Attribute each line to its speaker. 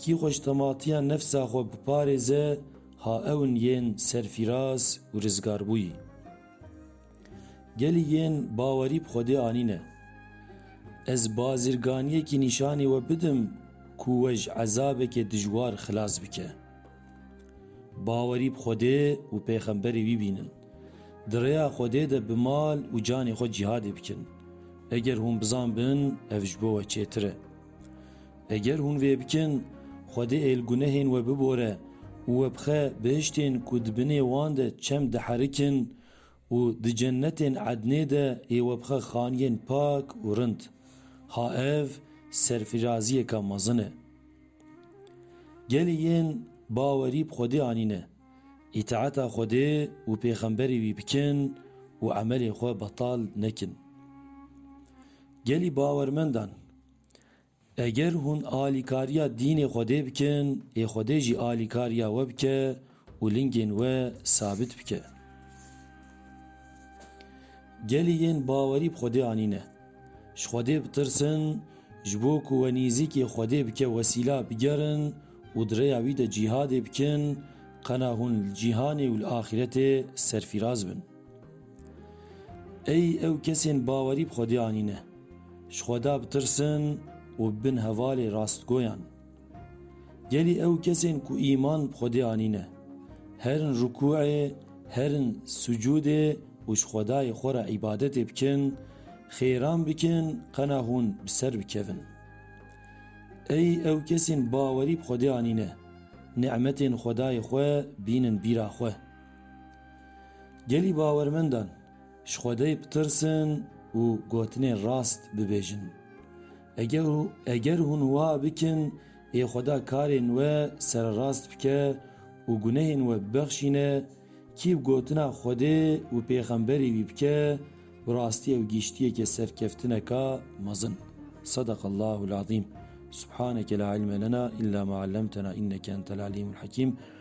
Speaker 1: Kî xweştematiya nefsa xwe biparêze ha ewn yên serfîraz û rizgarbûyî. Gelî yên bawerî bi Xwedê anîne. Ez bazirganiyekî nîşanê we bidim ku we ji ezabekê dijwar xilas bike. Bawerî bi Xwedê û pêxemberê wî bînin. Di rêya Xwedê de bi mal û canê xwe cîhadê bikin. Eger hûn bizan bin ev ji bo we çêtir e. Eger hûn vê bikin, Xwedê ê li gunehên we bibore û we bixe bihiştên ku di binê wan de çem diherikin û di cennetên Ednê de ê we bixe xaniyên pak û rind. Ha ev serfiraziyeke mezin e! Gelê yên bawerî bi Xwedê anîne, îtaeta Xwedê û pêxemberê wî bikin û emelên xwe betal nekin. Gelî bawermendan, Eger hûn alîkariya dînê Xwedê bikin, ê Xwedê jî alîkariya we bike û lingên we sabit bike. Gelê yên bawerî bi Xwedê anîne. Ji Xwedê bitirsin, ji bo ku we nêzîkê Xwedê bike wesîla bigerin û di rêya wî de cîhadê bikin, qena hûn li cîhanê û li axîretê serfîraz bin. Ey ew kesên bawerî bi Xwedê anîne, ji Xweda bitirsin û bibin hevalê rastgoyan. Gelî ew kesên ku îman bi Xwedê anîne, herin rukûê, herin sucûdê û ji Xwedayê xwe re îbadetê bikin, xêran bikin qena hûn bi ser bikevin. Ey ew kesên bawerî bi Xwedê anîne, ni'metên Xwedayê xwe bînin bîra xwe. Gelî bawermendan ji Xwedê bitirsin û gotinên rast bibêjin. Eger hûn wa bikin, ê Xweda karên we sererast bike û gunehên we bibexşîne, kî bi gotina Xwedê û pêxemberî wî bike, bi rastî ew gîştiyeke serkeftineka mezin. Sedeqallahul azîm. Subhaneke la ilme lena illa ma allemtena inneke entel alîmul hekîm.